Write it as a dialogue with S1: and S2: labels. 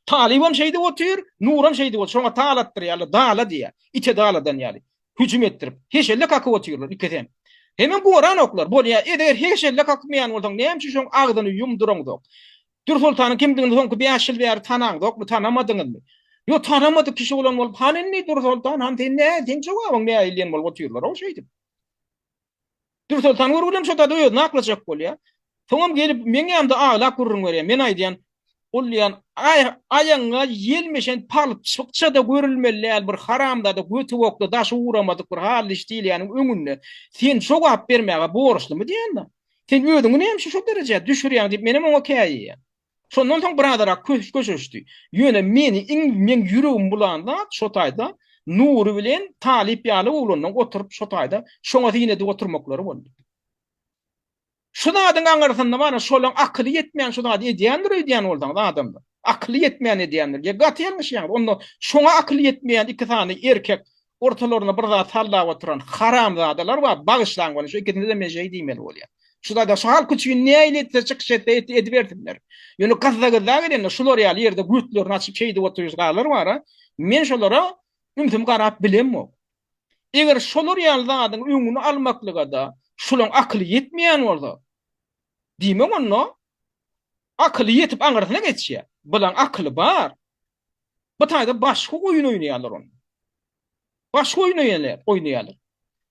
S1: Talybam şeýdip otyr, Nuram şeýdip otyr. Şoňa tal atdyrýarlar, dala diýýär. Ite daladan ýaly. Hüjüm etdirip, heşelle kakyp otyrlar ikisi hem. Hemem goran oklar. Bolýa, eger heşelle kakmaýan bolsaň, näme üçin şoň agzyny ýum duraňzok? Dürsoltanyň kimdigini soňky bäş ýyl bäri tanaňzokmy, tanamadyňyzmy? Ýok, tanamadyk kişi bolan bolup, han indi Dürsoltan han, sen nä, seň jogabyň nähili diýen bolup otyrlar-ow şeýdip. Dürsoltan görgüli hem şo zady özüne aklajak bolýar. Soňam gelip meň ýanymda aglap gürrüň berýär. Men aýdýan, Ol diýýän, aý, aýagyňa ýelmeşen palçykça-da görülmeli däl bir haramzada götübokly daşy ugramadyk bir hally iş diýilýäniň öňünde sen jogap bermäge borçlymy diýýän-de. Sen özüňi näme üçin şo derejä düşürýäň diýip menem oňa käýýär. Şondan soň birazarak köş köşeşdi. Ýöne meni iň meň ýüregimi bulan zat şo taýda Nury bilen Talyp ýaly oglanlaň oturyp şo taýda şoňa syn edip oturmaklary boldy. Şu zadyň aňyrsynda bar-a, şolaň akyly ýetmän şu zady edýändir öýdýän bolsaňyz adamlar. Akyly ýetmän edýändir. Ýa gaty ýalňyşýaňyz. Onda şoňa akyly ýetmeýän iki sany erkek ortalaryna bir zat sallap oturan haramzadalar bar bagyşlaň bolýa şu ikisine men şeý diýmeli bolýan şu zada şu halk üçin näýli etse çykyş etse et edibersinler ýöne gazza gazza gelende şular ýaly ýerde güýtlerini açyp şeý diýip oturýarlar bara men şolara ümsüm garap bilemok eger şolar ýaly zadyň öňüni almaklyga da şulaň akyly ýetmeýän bolsa diýmek onda akyly ýetip aňyrsyna geçýär bulaň akyly bar Bu taýda başga oýun oýnaýarlar onda. Başga oýun oýnaýarlar.